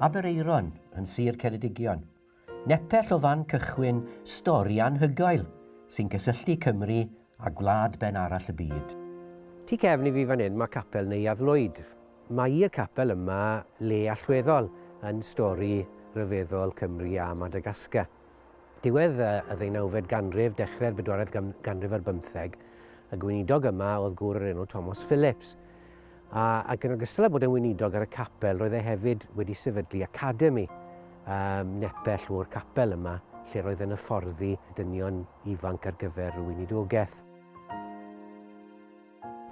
Aberaeron yn Sir Ceredigion. Nepell o fan cychwyn stori anhygoel sy'n cysylltu Cymru a gwlad ben arall y byd. Tu cefn i fi fan hyn mae capel Neuadd Lwyd. Mae y capel yma le allweddol yn stori ryfeddol Cymru a Madagascar. Diwedd y ddeunawfed ganrif, dechrau'r bedwaredd ganrif ar bymtheg, y gweinidog yma oedd gŵr o'r enw Thomas Phillips. A, ac yn ogystal â bod yn weinidog ar y capel, roedd e hefyd wedi sefydlu academi um, nepell o'r capel yma, lle roedd yn hyfforddi dynion ifanc ar gyfer y weinidogaeth.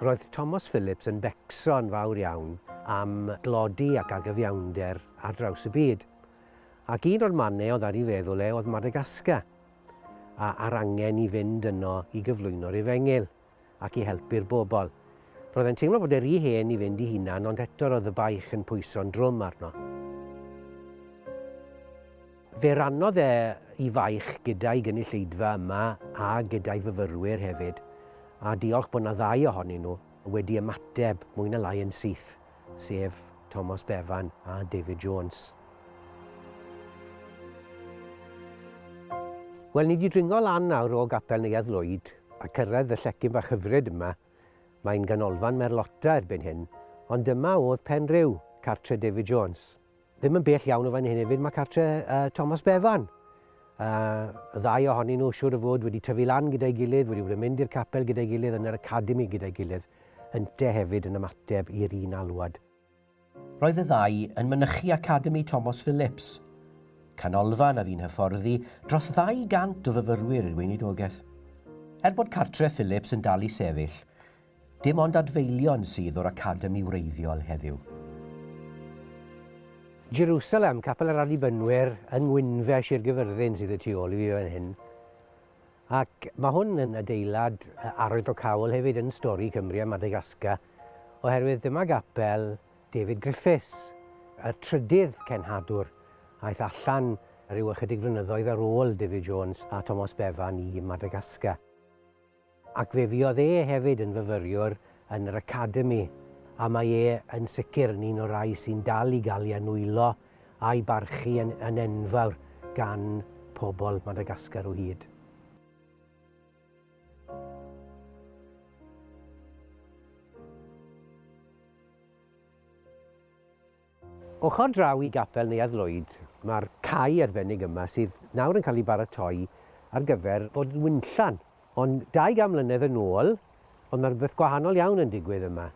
Roedd Thomas Phillips yn becso'n fawr iawn am glodi ac agyfiawnder ar draws y byd. Ac un o'r mannau oedd ar ei feddwl e oedd Madagascar, a a'r angen i fynd yno i gyflwyno'r Efengyl ac i helpu'r bobl. Roedd e'n teimlo bod e rhy hen i fynd i hunan ond eto roedd y baich yn pwyso'n drwm arno. Fe rannodd e i faich gyda'i gynulleidfa yma a gyda'i fyfyrwyr hefyd, a diolch bod 'na ddau ohonyn nhw wedi ymateb mwy na lai yn syth. sef Tomos Bevan a David Jones. Wel, ni di dringo lan nawr o gapel Neuadd Lwyd a cyrraedd y llecyn bach hyfryd yma. Mae'n ganolfan Merlota erbyn hyn, ond dyma oedd Penrhyw, cartre David Jones. Ddim yn bell iawn o fan hyn hefyd, mae cartre uh, Thomas Bevan. Uh, y ddau ohonyn nhw siwr o fod wedi tyfu lan gyda'i gilydd, wedi bod yn mynd i'r capel gyda'i gilydd, yn yr academi gyda'i gilydd, ynte hefyd yn ymateb i'r un alwad. Roedd y ddau yn mynychu Academi Thomas Phillips, canolfan a fi'n hyfforddi dros 200 o fyfyrwyr i'r weinidogaeth. Er bod cartre Phillips yn dal i sefyll, Dim ond adfeilion sydd o'r Academi wreiddiol heddiw. Jerusalem, Capel yr Annibynwyr yng Ngwynfe, Sir Gyfyrddin sydd y tu ôl i fi fan hyn. Ac mae hwn yn adeilad arwyddocaol hefyd yn stori Cymru a Madagascar, oherwydd dyma gapel David Griffiths, y trydydd cenhadwr, aeth allan rhyw ychydig flynyddoedd ar ôl David Jones a Tomos Bevan i Madagascar. Ac fe fuodd e hefyd yn fyfyriwr yn yr Academi, a mae e yn sicr yn un o'r rhai sy'n dal i gael ei anwylo a'i barchu yn, yn enfawr gan pobl Madagascar o hyd. Ochr draw i Gapel Neuadd Lwyd mae'r cae arbennig yma sydd nawr yn cael ei baratoi ar gyfer bod yn winllan. Ond 20 mlynedd yn ôl oedd 'na rywbeth gwahanol iawn yn digwydd yma.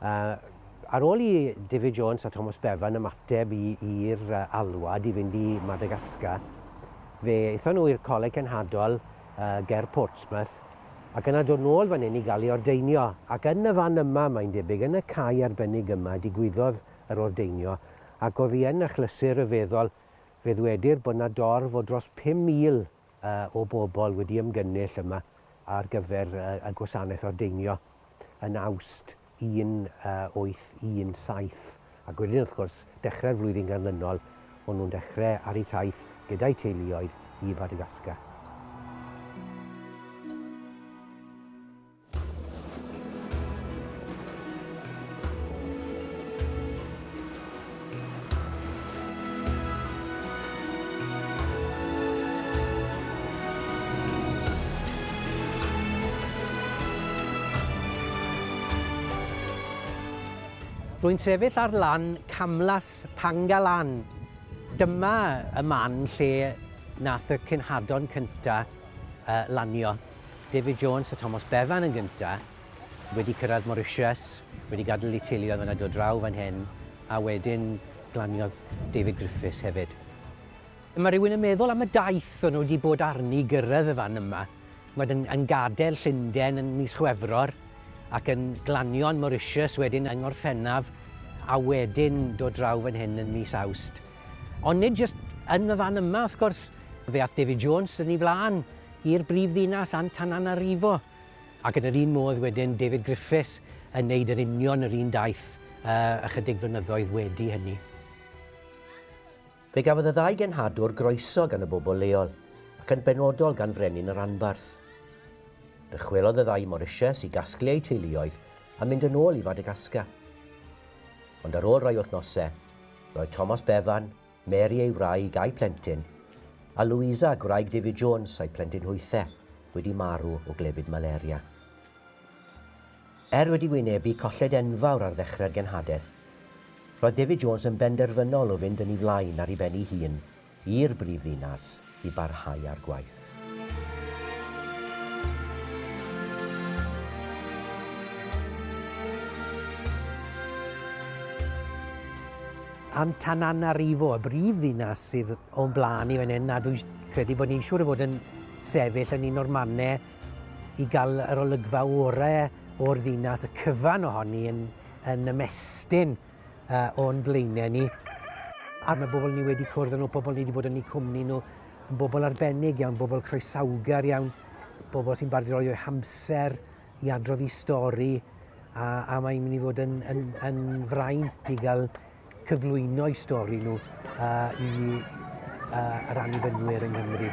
Ar ôl i David Jones a Thomas Bevan ymateb i'r alwad i fynd i Madagascar, fe aethon nhw i'r Coleg Cenhadol ger Portsmouth ac yna dod nôl fan hyn i gael ei ordeinio, ac yn y fan yma, mae'n debyg, yn y cae arbennig yma, digwyddodd yr ordeinio, ac oddi yn achlysur ryfeddol, fe ddwedir bod 'na dorf o dros 5,000 o bobl wedi ymgynnull yma ar gyfer y gwasanaeth ordeinio yn Awst. 1817 ac wedyn wrth gwrs dechrau'r flwyddyn ganlynol o'n nhw'n dechrau ar eu taith gyda'u teuluoedd i Fadagascar. Rwy'n sefyll ar lan camlas Pangalan. Dyma y man lle nath y cenhadon cynta yy lanio. David Jones a Tomos Bevan yn gynta. wedi cyrraedd Mauritius, wedi gadael eu teuluoedd fan 'na, dod draw fan hyn, a wedyn glaniodd David Griffiths hefyd. Mae rhywun yn meddwl am y daith o'n nhw wedi bod arni i gyrraedd y fan yma, chimod, yn, yn gadael Llundain yn mis Chwefror, ac yn glanio yn Mauritius wedyn yng Ngorffennaf, a wedyn dod draw fan hyn yn mis Awst. Ond nid jyst yn y fan yma, wrth gwrs, fe aeth David Jones yn ei flaen i'r brif ddinas Antananarivo, Ac yn yr un modd wedyn, David Griffiths yn neud yr union yr un daith ychydig flynyddoedd wedi hynny. Fe gafodd y ddau genhadwr groeso gan y bobl leol, ac yn benodol gan Frenin y Ranbarth. Dychwelodd y ddau i Morisias i gasglu eu teuluoedd a mynd yn ôl i Fadagascar. Ond ar ôl rhai wythnosau, roedd Thomas Bevan, Mary ei wraig a'i phlentyn, a Louisa, gwraig David Jones a'i phlentyn hwythe, wedi marw o glefyd malaria. Er wedi wynebu colled enfawr ar ddechrau'r genhadaeth, roedd David Jones yn benderfynol o fynd yn ei flaen ar ei ben ei hun i'r brifddinas. i barhau â'r gwaith. Antananarivo, y brif ddinas sydd o'n blaen i fan hyn, a dwi'n credu bod ni'n siŵr o fod yn sefyll yn un o'r mannau i gael yr olygfa orau o'r ddinas, y cyfan ohoni yn, yn ymestyn uh, o'n blaenau ni. A mae bobl ni wedi cwrdd nhw, pobl ni wedi bod yn eu cwmni nhw, yn bobl arbennig iawn, bobl croesawgar iawn, bobl sy'n bardroi o'i hamser i adrodd i stori, a, a mae'n mynd i fod yn, yn, yn fraint i gael cyflwyno i stori nhw uh, i uh, yr annibynnwyr yng Nghymru.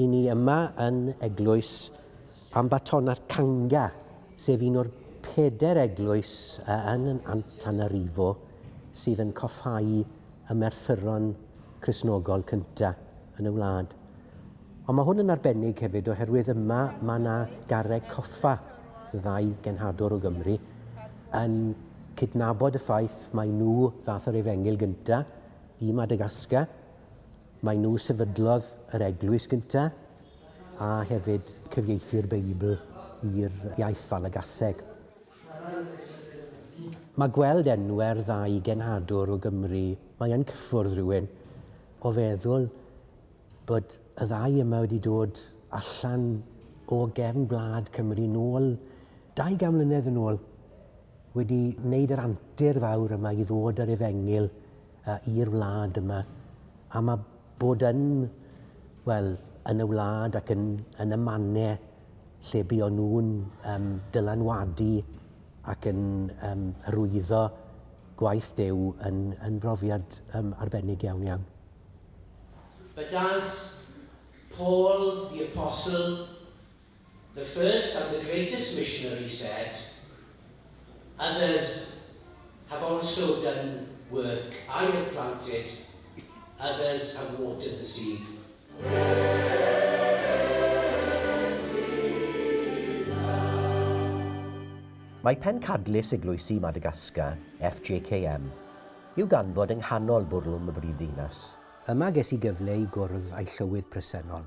I ni yma yn Eglwys Ambattona'r Canga, sef un o'r peder eglwys yn Antananarivo sydd yn coffáu y merthyron Cristnogol cynta yn y wlad. Ond mae hwn yn arbennig hefyd oherwydd yma mae yna garreg coffa ddau genhadwr o Gymru yn cydnabod y ffaith mae nhw ddath yr efengyl gynta i Madagascar Maen nhw sefydlodd yr eglwys gynta, a hefyd cyfieithu'r Beibl i'r iaith Falagaseg. Mae gweld enwau'r ddau genhadwr o Gymru, mae yn cyffwrdd rhywun o feddwl bod y ddau yma wedi dod allan o gefn gwlad Cymru nôl 200 mlynedd yn ôl, wedi wneud yr antur fawr yma i ddod yr Efengyl i'r wlad yma, a mae bod yn, wel, yn y wlad ac yn, yn y manne lle bu o'n nhw'n um, dylanwadu ac yn um, hyrwyddo gwaith Dew yn, yn brofiad um, arbennig iawn iawn. But as Paul the Apostle The first and the greatest missionary said, Others have also done work, I have planted, others have watered the seed. Mae Pencadlys Eglwysi Madagascar, FJKM, i'w ganfod yng nghanol bwrlwm y brifddinas. Yma ges i gyfle i gwrdd â'i llywydd presennol,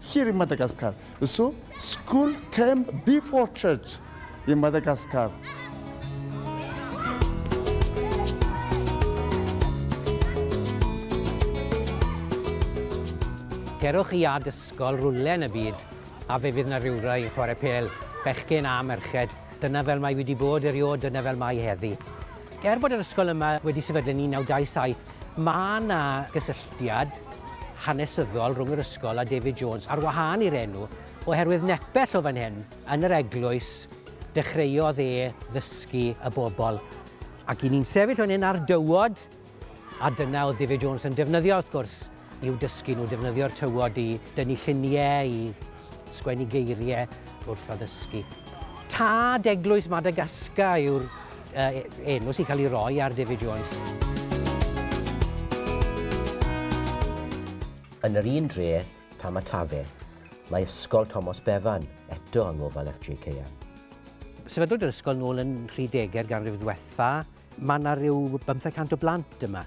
Here in Madagascar. So, school came before church in Madagascar. Cerwch i ad ysgol rwle yn y byd a fe fydd na rywrai yn chwarae pel, bechgyn a merched. Dyna fel mae wedi bod eriod, dyna fel mae heddi. Er bod yr ysgol yma wedi sefydlu yn 1927, Mae yna gysylltiad hanesyddol rhwng yr ysgol a David Jones, ar wahân i'r enw, oherwydd nepell o fan hyn, yn yr eglwys, dechreuodd e ddysgu y bobl. Ac i ni'n sefyll fan hyn ar dywod, a dyna oedd David Jones yn defnyddio, wrth gwrs, i'w dysgu nhw defnyddio'r tywod i dynnu lluniau, i sgwennu geiriau wrth addysgu. Tad Eglwys Madagascar yw'r enw sy'n cael ei roi ar David Jones. Yn yr un dre, Tamatave, mae Ysgol Tomos Bevan eto yng ngofal FJKM. Sefydlwyd yr ysgol nôl yn 30au'r ganrif ddiwetha'. Mae 'na ryw bymtheg cant o blant yma.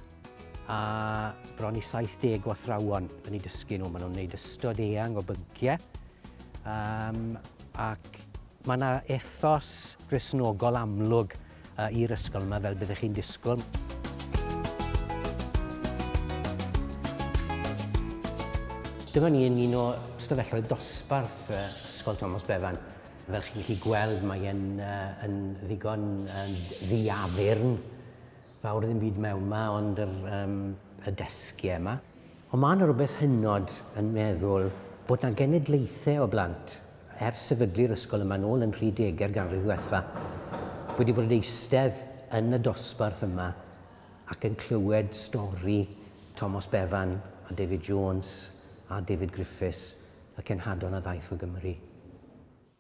a bron i 70 o athrawon yn ei dysgu nhw. Maen nhw'n gwneud ystod eang o bynciau um, ac mae yna ethos grisnogol amlwg uh, i'r ysgol yma fel byddwch chi'n disgwyl. Dyma ni yn un o ystafelloedd dosbarth uh, Ysgol Thomas Bevan. Fel chi'n chi gweld, mae'n uh, yn ddigon uh, ddiafyrn Fawr ddim byd mewn 'ma ond yr yym y desgie 'ma. Ond ma' 'na rwbeth hynod yn meddwl bod 'na genedlaethau o blant, ers sefydlu'r ysgol yma nôl yn rhy dege'r ganrif ddwetha, wedi bod yn eistedd yn y dosbarth yma ac yn clywed stori Tomos Bevan a David Jones a David Griffiths, y cenhadon a ddaeth o Gymru.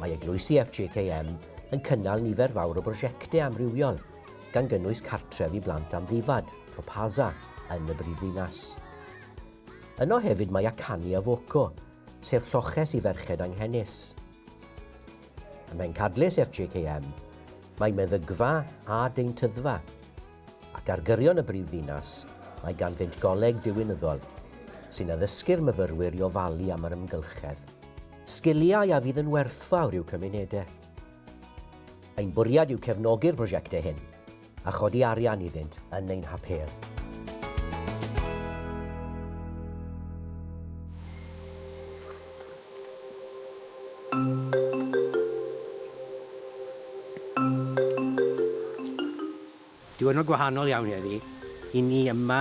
Mae eglwysi FJKM yn cynnal nifer fawr o brosiectau amrywiol, gan gynnwys cartref i blant amddifad, Topaza, yn y brifddinas. Yno hefyd mae Akani a Voco, sef lloches i ferched anghenus. Ym Mhencadlys FJKM, mae meddygfa a deintyddfa. Ac ar gyrion y brifddinas, mae ganddynt goleg diwinyddol, sy'n addysgu'r myfyrwyr i ofalu am yr amgylchedd, sgiliau a fydd yn werthfawr i'w cymunedau. Ein bwriad yw cefnogi'r prosiectau hyn a chodi arian iddynt yn ein hapêl. Diwrnod gwahanol iawn heddi i ni yma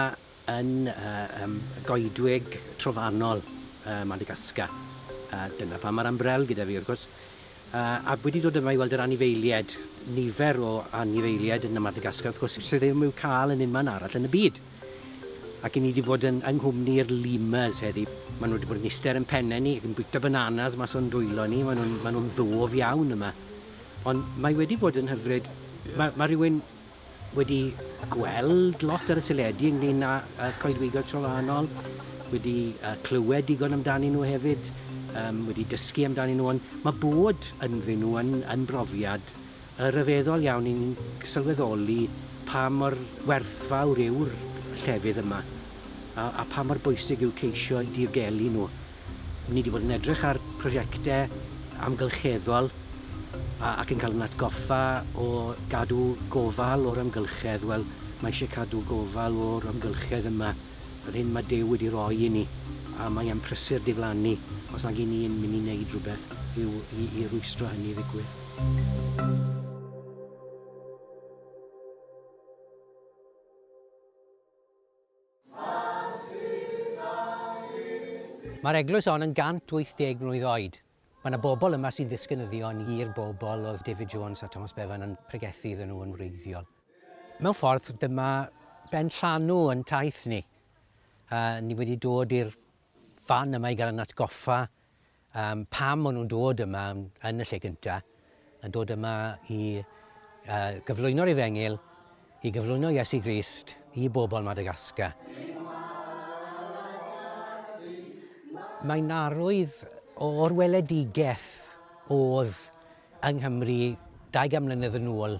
yn yym goedwig trofannol yy Madagascar a dyna pam ma'r umbrell gyda fi wrth gwrs. A wedi dod yma i weld yr anifeiliaid, nifer o anifeiliaid yn y Madagascar wrth gwrs sydd ddim i'w cael yn unman arall yn y byd. Ac i ni wedi bod yn yng nghwmni'r lemurs heddi. Maen nhw wedi bod yn eistedd yn pennau ni ac yn bwyta bananas mas o'n dwylo ni. Maen nhw'n maen nhw'n ddof iawn yma. Ond mae wedi bod yn hyfryd. Mae, mae rhywun wedi gweld lot ar y teledu ynglyn â uh, coedwigoedd trofannol, wedi uh, clywed digon amdanyn nhw hefyd, um, wedi dysgu amdanyn nhw, ond mae bod ynddyn nhw yn, yn brofiad uh, ryfeddol iawn i'n sylweddoli pa mor werthfawr yw'r llefydd yma a, a pa mor bwysig yw ceisio diogelu nhw. Ni wedi bod yn edrych ar prosiectau amgylcheddol ac yn cael ein atgoffa o gadw gofal o'r amgylchedd. Wel, mae eisiau cadw gofal o'r amgylchedd yma, yr hyn mae Duw wedi rhoi i ni, a mae e'n prysur diflannu os nag y'n ni'n mynd i wneud rhywbeth i'w, i, i rwystro hynny ddigwydd. Mae'r eglwys hon yn 180 mlwydd oed. Mae 'na bobl yma sy'n ddisgynyddion i'r bobl oedd David Jones a Thomas Bevan yn pregethu iddyn nhw yn wreiddiol. Mewn ffordd, dyma ben llanw yn taith ni. Ni wedi dod i'r fan yma i gael ein atgoffa Yym, pam o'n nhw'n dod yma yn y lle gynta, yn dod yma i uh, gyflwyno'r efengil, i gyflwyno Iesu Grist i bobl Madagascar. Mae narwydd o'r weledigaeth oedd yng Nghymru 20 mlynedd yn ôl,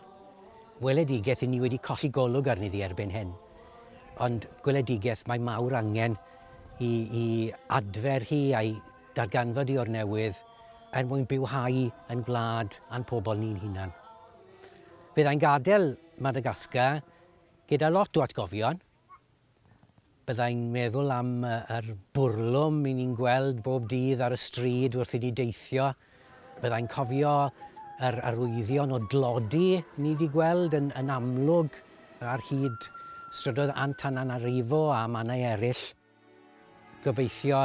weledigaeth i ni wedi colli golwg arni ddi erbyn hyn, ond gweledigaeth mae mawr angen i i adfer hi a'i darganfod hi o'r newydd er mwyn bywhau yn gwlad a'n pobl ni'n hunan. Byddai'n gadael Madagascar gyda lot o atgofion. Byddai'n meddwl am yr bwrlwm i ni'n gweld bob dydd ar y stryd wrth i ni deithio Byddai'n cofio yr arwyddion o dlodi ni 'di gweld yn yn amlwg ar hyd strydoedd Antananarivo a mannau eraill. Gobeithio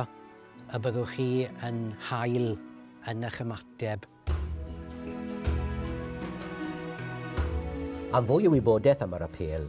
y byddwch chi yn hael yn eich ymateb. Am fwy o wybodaeth am yr apêl,